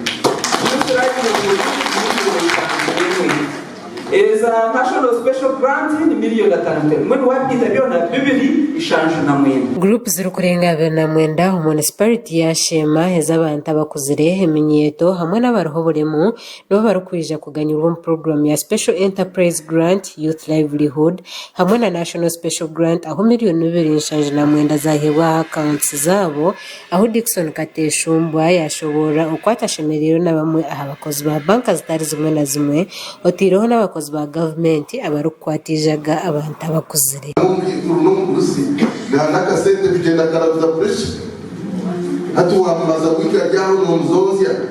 Mushuraine Muli Mushube Mutanziremu Eza National Special Grant Ni Million Atano Ntero Mwenu Wabigaita Byona Bibiri Nshanju Na Mwenda. Group zirikurenga abiri na mwenda omu munisipariti ya Sheema ez'abantu abakuzire, eminyeeto hamwe n'abariho oburemu nibo barikwija kuganyirwa omu puroguramu ya Special Enterprise Grant, Youth Livelihood hamwe na National Special Grant ahu miriyoni bibiri nshanju na mwenda zaaheebwa aha akaawunti zaabo. Ahu Dickson Kateshumbwa yaashoboorora oku atashemereirwe na bamwe aha bakozi ba banka zitari zimwe na zimwe otaireho n'abakozi ba gavumenti abarikukwata eijaga abantu abakuzire. Nangwa omukaikuru n'omuguzi naana akasente kugyenda karaguza pureki. Hati waamubaza kuhika ryaaho noomuzootsya?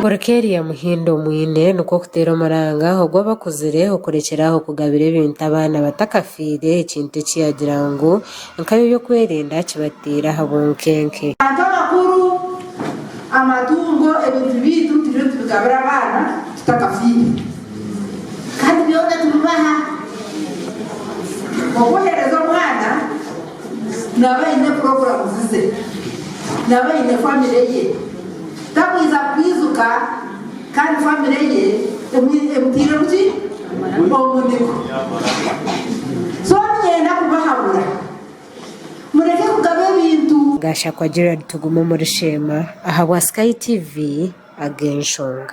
Kureka erya Muhindo mwine nikwo kuteera omuranga ogu abakuzire okurekyera aho kugabira ebintu abaana batakafiire ekintu eki yaagira ngu nka byoby'okwerinda kibateire aha bunkenke. Bantu abakuru, amatungo, ebintu byaitu turiyo nitubigabira abaana tutakafiire kandi byona tubibaha. Obu oheereza omwana. Naaba aine puroguramu ze, naaba aine famire ye, takwija kwijuka kandi famire ye emutairemu ki? Omuniko. So niinyenda kubahabura mureke kugaba ebintu. Gashakwa Gerald Tugume omuri Sheema ahabwa Sky TV ag'enshonga.